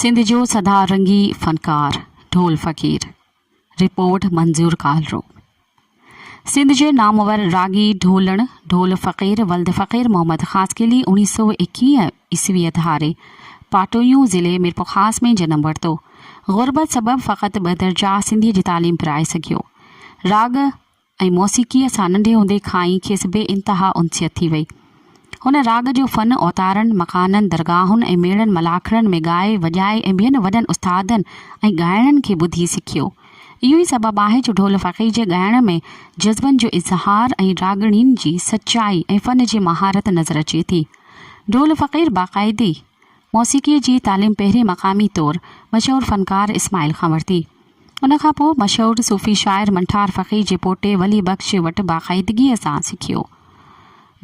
سنڌ جو سدا رنگي فنڪار ڍول فقير، رپورٽ منظور ڪالرو، سنڌ جي نامور راڳي ڍولڻ ڍول فقير ولد فقير محمد خاصخيلي اوڻيھ سؤ ايڪيهه عيسويء ڌاري پاٽويون ضلعي ميرپورخاص ۾ جنم ورتو. غربت سبب فقط ٻه درجا سنڌيء جي تعليم پرائي سگهيو. راڳ. ۽ موسيقيء سان ننڍي هوندي کان ئي کيس بي انتها انسيت ٿي وئي. هن راڳ جو فن اوتارن، مڪانن، درگاهن ۽ ميڙن ملاکڙن ۾ ڳائي، وڄائي ۽ ٻين وڏن استادن ۽ ڳائڻن کي ٻڌي سکيو. اهو ئي سبب آهي جو ڍول فقير جي ڳائڻ ۾ جذبن جو اظهار ۽ راڳڻين جي سچائي ۽ فن جي مهارت نظر اچي ٿي. ڍول فقير باقاعدي موسيقيء جي تعليم پهرين مقامي طور مشهور فنڪار اسماعيل کان ورتي. ان کان پوء مشهور صوفي شاعر منٺار فقير جي پوٽي ولي بخش وٽ باقاعدگيء سان سکيو.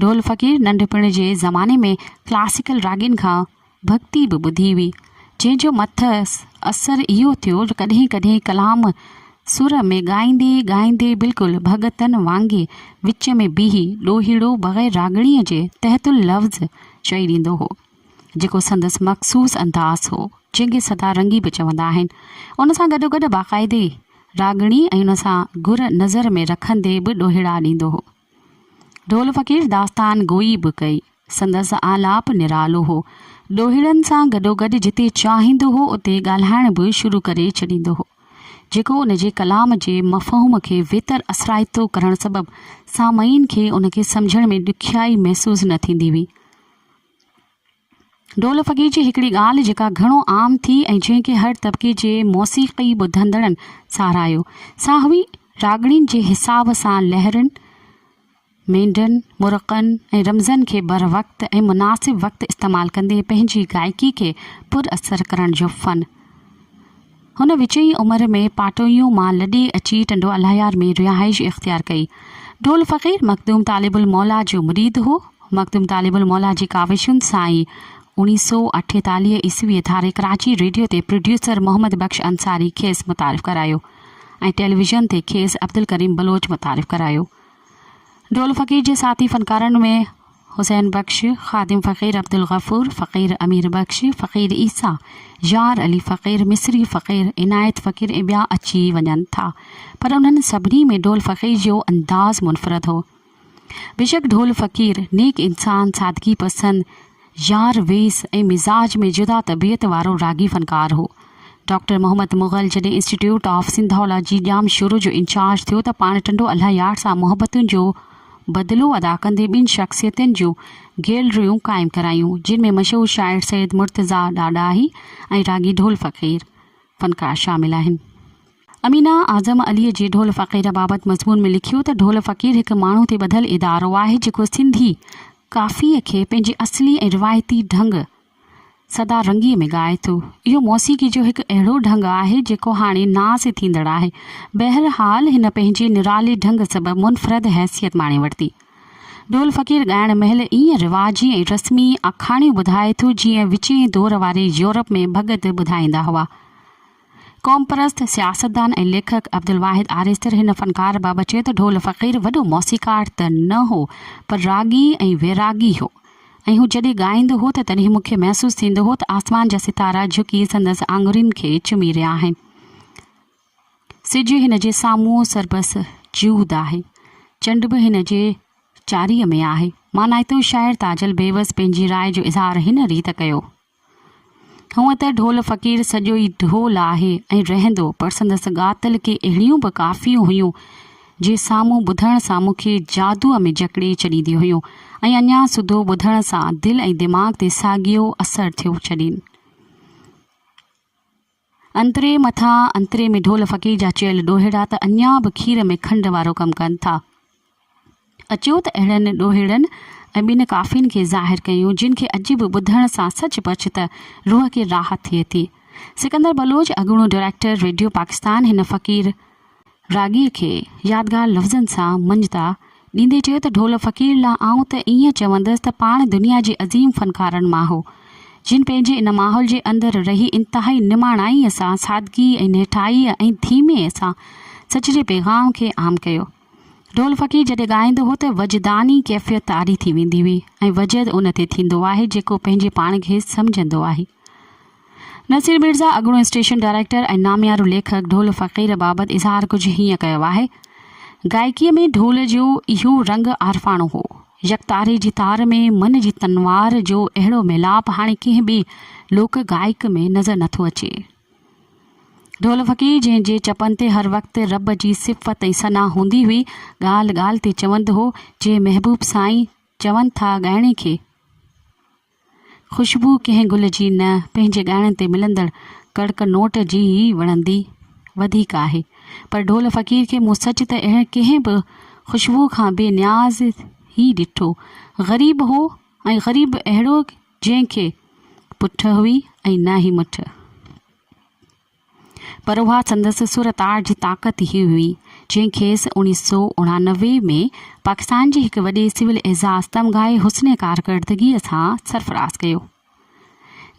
ڍول فقير ننڍپڻ جي زماني ۾ ڪلاسيڪل راڳين کان ڀڳتي به ٻڌي هئي، جنهن جو مٿس اثر اهو ٿيو جو ڪڏهن ڪڏهن ڪلام سر ۾ ڳائيندي ڳائيندي بلڪل ڀڳتن وانگي وچ ۾ بيهي ڏوهيڙو بغير راڳڻيء جي تحت اللفظ چئي ڏيندو هو. جيڪو سندس مخصوص انداز هو، جنهن کي سدا رنگي به چوندا آهن. ان سان گڏوگڏ باقاعدي راڳڻي ۽ ان سان گهر نظر ۾ رکندي به ڏوهيڙا ڏيندو هو. ڍول فقير داستان گوئي به ڪئي. سندس آلاپ نرالو هو. ڏوهيڙن سان گڏوگڏ جتي چاهيندو هو اتي ڳالهائڻ به شروع ڪري ڇڏيندو هو، جيڪو ان جي ڪلام جي مفهوم کي ويتر اثرائتو ڪرڻ سبب سامعين کي ان کي سمجهڻ ۾ ڏکيائي محسوس نه ٿيندي هئي. ڍول فقير جي هڪڙي ڳالهه جيڪا گهڻو عام ٿي ۽ جنهن کي هر طبقي جي موسيقي ٻڌندڙن ساراهيو سا هئي راڳڻين جي حساب سان لهرين، مينڍن، مرڪن ۽ رمزن کي بروقت ۽ مناسب وقت استعمال ڪندي پنهنجي گائيڪي کي پر اثر ڪرڻ جو فن. هن وچئين عمر ۾ پاٽوهيون مان لڏي اچي ٽنڊو الهيار ۾ رهائش اختيار ڪئي. ڍول فقير مخدوم طالب الموليٰ جو مريد هو. مخدوم طالب الموليٰ جي ڪاوشن سان ئي اوڻيهه سؤ اٺيتاليهه عيسويء ڌاري ڪراچي ريڊيو تي پروڊيوسر محمد بخش انصاري کيس متعارف ڪرايو ۽ ٽيليويزن تي کيس عبدالڪريم بلوچ متعارف ڪرايو. ڍول فقير جي ساٿي فنڪارن ۾ حسين بخش، خادم فقير عبدالغفور، فقير امير بخش، فقير عيسيٰ، يار علي فقير، مصري فقير، عنايت فقير ۽ ٻيا اچي وڃن ٿا پر انهن سڀني ۾ ڍول فقير جو انداز منفرد هو. بيشڪ ڍول فقير نيڪ انسان، سادگي پسند، يار ويس ۽ مزاج ۾ جدا طبيعت وارو راڳي فنڪار هو. ڊاڪٽر محمد مغل جڏهن institute of Sindhology Jamshoro جو انچارج ٿيو ته پاڻ ٽنڊو الله يار سان محبتن جو بدلو ادا ڪندي ٻن شخصيتن جون گيلريون قائم ڪرايون جن ۾ مشهور شاعر سيد مرتضيٰ ڏاڏاهي ۽ راڳي ڍول فقير فنڪار شامل آهن. امينه اعظم عليء جي ڍول فقير بابت مضمون ۾ لکيو ته ڍول فقير هڪ ماڻهو تي ٻڌل ادارو آهي جيڪو سنڌي ڪافيء کي پنهنجي اصلي ۽ روايتي ڍنگ سدا رنگيء ۾ ڳائي ٿو. اهو موسيقي جو هڪ اهڙو ڍنگ آهي جيڪو هاڻي ناس ٿيندڙ آهي. بهرحال هن پنهنجي نرالي ڍنگ سبب منفرد حيثيت ماڻي ورتي. ڍول فقير ڳائڻ مهل ائين رواجي ۽ رسمي آکاڻيون ٻڌائي ٿو جيئن وچين دور واري يورپ ۾ ڀڳت ٻڌائيندا هئا. قومپرست سياستدان ۽ ليکڪ عبدالواحد آريستر هن فنڪار بابت چيو ته ڍول فقير وڏو موسيقار ته نه هو پر راڳي ۽ ويراڳي هو ۽ هو جڏهن ڳائيندو هو ته تڏهن مون کي محسوس ٿيندو هو ته آسمان جا ستارا جهڪي سندس آڱرين کي چمي رهيا آهن سج هن جي سامهون سربس جهود آهي چنڊ به هن جي چاري ۾ آهي مانائتو شاعر تاجل بيوس پنهنجي راء جو اظهار هن ريت ڪيو هونء ته ڍول فقير سڄو ئي ڍول آهي ۽ رهندو، پر سندس ڳاتل ڪي اهڙيون به ڪافيون هيون، جي سامهون ٻڌڻ سان مون کي جادوء ۾ جڪڙي ڇڏينديون هيون ۽ اڃا سڌو ٻڌڻ سان دل ۽ دماغ تي ساڳيو اثر ٿيو ڇڏين. انتري مٿان انتري ۾ ڍول فقير جا چيل ڏوهيڙا ته اڃا به کير ۾ کنڊ وارو ڪم ڪن ٿا. اچو ته اهڙن ڏوهيڙن ۽ ٻن ڪافين کي ظاهر ڪيون جن کي اڄ به ٻڌڻ سان سچ پچ ته روح کي راحت ٿئي ٿي. سڪندر بلوچ اڳوڻو ڊريڪٽر ريڊيو پاڪستان هن فقير. راڳيء کي يادگار لفظن سان منجهندا ڏيندي چيو ته ڍول فقير لا آئون ته ائين چوندس ته پاڻ دنيا جي عظيم فنڪارن مان هو، جن پنهنجي ان ماحول جي اندر رهي انتهائي نماڻائيء سان سادگيء ۽ نهٺائيء ۽ ڌيمي سان سچ جي پيغام کي عام ڪيو. ڍول فقير جڏهن ڳائيندو هو ته وجداني ڪيفيت طاري ٿي ويندي هئي ۽ وجد ان تي ٿيندو آهي جيڪو پنهنجي پاڻ کي سمجهندو آهي. نصير ميرزا اڳوڻو اسٽيشن ڊائريڪٽر ۽ ناميارو ليکڪ ڍول فقير بابت اظهار ڪجهه هيئن ڪيو آهي، گائڪيء ۾ ڍول جو اهو رنگ عارفاڻو هو. يڪتاري جي تار ۾ من جي تنوار جو اهڙو ميلاپ هاڻي ڪنهن ٻي لوڪ گائڪ ۾ نظر نه ٿو اچي. ڍول فقير جنهن جي چپن تي هر وقت رب جي صفت ۽ ثنا هوندي هئي، ڳالهه ڳالهه تي چوندو هو، جي محبوب سائين چون ٿا ڳائڻي کي، خوشبو ڪنهن گل جي نه، پنهنجي ڳائڻ تي ملندڙ ڪڙڪ نوٽ جي ئي وڻندي وڌيڪ آهي. پر ڍول فقير کي مون سچ ته اهڙي ڪنهن به خوشبوء کان بي نياز ئي ڏٺو. غريب هو ۽ غريب به اهڙو جنهن کي پٺ هئي ۽ نه ئي مٺ. پر اها سندس سر تاڙ جي طاقت ئي هئي، جنهن کيس اوڻيهه سؤ اڻانوي ۾ پاڪستان جي هڪ وڏي سول اعزاز تمغائي حسن ڪارڪردگيء سان سرفراز ڪيو.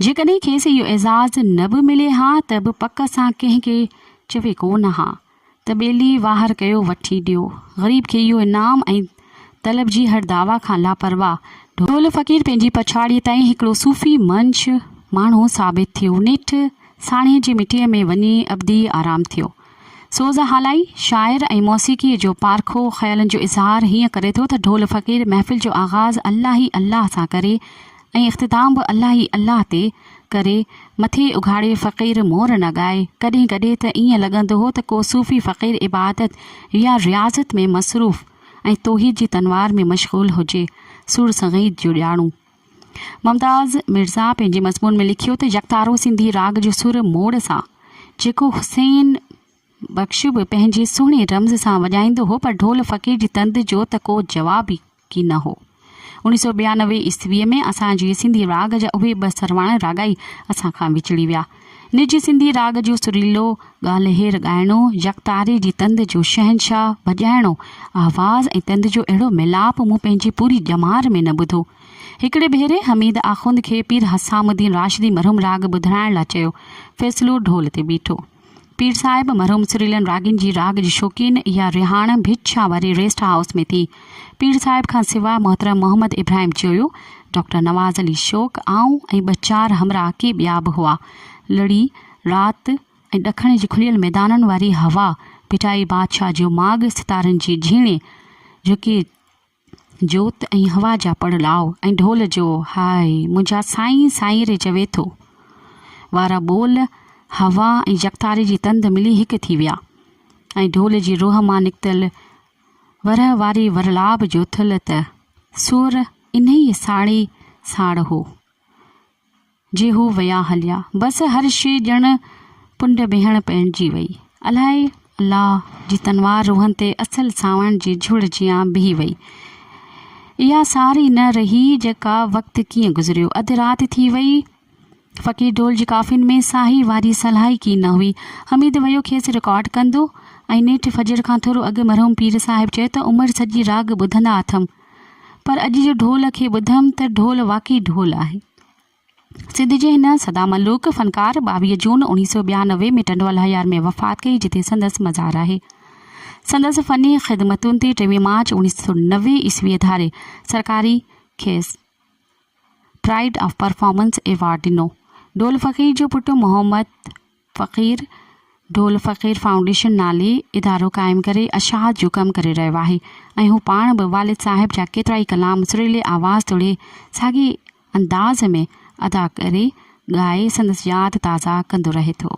جيڪڏهن کيس اهو اعزاز نه به ملي ها ته به پڪ سان ڪنهن کي چوي ڪو نه ها ته ٻيلي واهر ڪيو وٺي ڏيو غريب کي اهو انعام ۽ طلب جي هر دعويٰ کان لاپرواهه ڍول فقير پنهنجي پڇاڙيء تائين هڪڙو صوفي منش ماڻهو ثابت ٿيو نيٺ ساڻيهه جي مٽيء ۾ وڃي ابدي آرام ٿيو سوز هالائي شاعر ۽ موسيقيء جو پارکو خيالن جو اظهار هيئن ڪري ٿو ته ڍول فقير محفل جو آغاز الله ئي الله سان ڪري ۽ اختتام به الله ئي الله تي ڪري، مٿي اگهاڙي فقير مور نه ڳائي. ڪڏهن ڪڏهن ته ائين لڳندو هو ته ڪو صوفي فقير عبادت يا رياضت ۾ مصروف ۽ توحيد جي تنوار ۾ مشغول هجي. سور سنگيت جو ڄاڻو ممتاز مرزا پنهنجي مضمون ۾ لکيو ته يڪتارو سنڌي راڳ جو سر موڙ سان جيڪو حسين بخش به پنهنجي سهڻي رمز سان وڄائيندو هو پر ڍول فقير جي تند جو ته ڪو جواب ئي ڪي نه هو. اوڻيھ سؤ ٻيانوي عيسويء ۾ اسان جي سنڌي راڳ جا اهي ٻه سرواڻ راڳائي اسان کان وڇڙي ويا. نج سنڌي راڳ جو سريلو، ڳالهير ڳائڻو، يڪتاري جي تند جو شهنشاهه، ڀڄائڻو، آواز ۽ تند جو اهڙو ميلاپ مون پنهنجي پوري ڄمار ۾ نه ٻڌو. هڪڙي ڀيري حميد آخوند کي پير حسام الدين راشدي مرحوم راڳ ٻڌرائڻ لاء چيو. فيصلو ڍول تي بيٺو. پير صاحب مرحوم سريلن راڳين جي راڳ جي شوقين اها رهاڻ ڀٽ شاهه واري ريسٽ هائوس ۾ ٿي. پير صاحب کان سواء محترم محمد ابراهيم چيويو، ڊاڪٽر نواز علي شوق، آئون ۽ ٻه چار همراهه ڪي ٻيا به هئا. لڙي، رات ۽ ڏکڻ جي کليل ميدانن واري هوا، ڀٽائي بادشاهه جو ماڳ، ستارن جي جهيڻي، جهڪي جوت ۽ هوا جا پڙ لاء ۽ ڍول جو هاء منهنجا سائين سائين ري چوي ٿو وارا ٻول هوا ۽ يڪتاري جي تند ملي هڪ ٿي ويا ۽ ڍول جي روح مان نڪتل ورهه واري ورلاب جو ٿلهه ته سور انهيء ساڙي ساڙ هو. جي هو ويا هليا بس هر شي ڄڻ ڪنڊ بيهڻ پئڻجي وئي الائي الله جي تنوار روحن تي اصل سانوڻ جي جهڙ جيان بيهي وئي اها ساري نه رهي جيڪا وقت ڪيئن گذريو اڌ رات ٿي وئي فقير ڍول جي ڪافين ۾ ساهي واري سلهائڪي نه هئي حميد ويو کيس رڪارڊ ڪندو ۽ نيٺ فجر کان ٿورو اڳ مرحوم پير صاحب چيو ته عمر سڄي راڳ ٻڌندا اٿم پر اڄ جو ڍول کي ٻڌم ته ڍول واقعي ڍول آهي سنڌ جي هن سدا ملوڪ فنڪار ٻاويهه جون اڻويهه سؤ ٻيانوي ۾ ٽنڊو الهيار ۾ وفات ڪئي جتي سندس مزار آهي. سندس فني خدمتن تي ٽيوي مارچ اڻويهه سؤ نوي عيسويء ڌاري سرڪاري کيس پرائيڊ آف پرفارمنس ايوارڊ ڏنو. ڍول فقير جو پٽ محمد فقير ڍول فقير فائونڊيشن نالي ادارو قائم ڪري اشاعت جو ڪم ڪري رهيو آهي ۽ هو پاڻ به والد صاحب جا ڪيترائي ڪلام سريلي آواز توڙي ساڳئي انداز ۾ ادا ڪري ڳائي سندس ياد تازا ڪندو رهي ٿو.